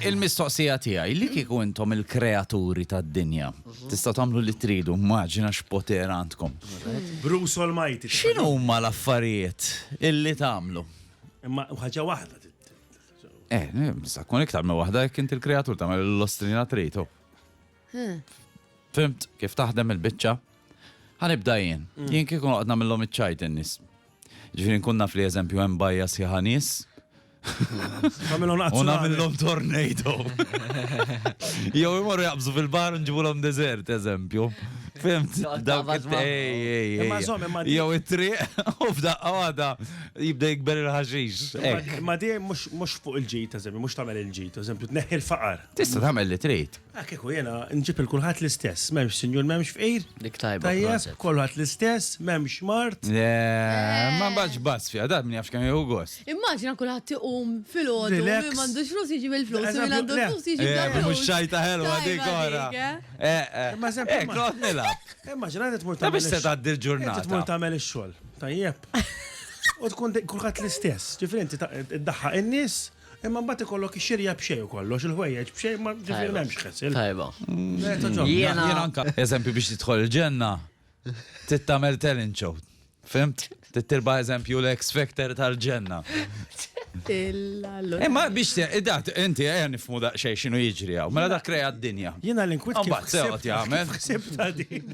Il-mistoqsija tiegħi, li kieku intom il-kreaturi tad-dinja, tistgħu tagħmlu li tridu, immaġina x'poter għandkom. Bruce Almighty. X'inhuma l-affarijiet illi tagħmlu? Imma ħaġa waħda. Eh, nista' tkun iktar minn waħda jekk inti l-kreatur tagħmel l-ostrina trid. Fimt kif taħdem il-biċċa? Ħanibda jien. Mm. Jien kieku noqgħod nagħmilhom iċ-ċajt in-nies. Ġifieri nkun naf li eżempju hemm bajja sħiħa nies Għamilhom nazzjonali. U nagħmilhom tornado. Jew imorru jaqbżu fil-bar nġibulhom deżert, eżempju. Fimt, dawk Jew it-triq u f'daqqa għada jibda jikber il-ħaxix. Ma di mhux fuq il-ġid, eżempju, mhux tagħmel il-ġid, eżempju, tneħħi l-faqar. Tista' tagħmel li trid. Ah kieku jiena nġib il kulħadd l-istess, m'hemmx sinjur m'hemmx fqir. Dik tajba. Tajjeb, kulħadd l-istess, m'hemmx mard. Le, ma nbagħadx b'għażż fiha, dan min jaf x'kemm jieħu gost. Immaġina kulħadd iqum filgħodu, min m'għandux flus jiġi bil-flus, min għandu flus jiġi bla flus. Mhux xajta ħelwa dik ora. Ma żemm. Hekk noqgħod nilgħab. Immaġina li tmur tagħmel. Ta' biex se tgħaddi l-ġurnata. Tmur tagħmel ix-xogħol. Tajjeb. U tkun kulħadd l-istess. Ġifieri inti iddaħħaq in-nies. Imma mbagħad ikollok ix-xirja b'xejn kollox, il-ħwejjeġ b'xejn, ma ġifieri m'hemmx ħessil. Tajba. Jiena anka. Eżempju biex tidħol il-ġenna, trid tagħmel talent show. Fimt? Trid tirba' eżempju l-X Factor tal-ġenna. Imma biex dak inti ejja nifhmu daqsxejn x'inhu jiġri hawn. Mela dak krea d-dinja. Jiena l-inkwit kif seqgħod jagħmel. Ħsibtha din.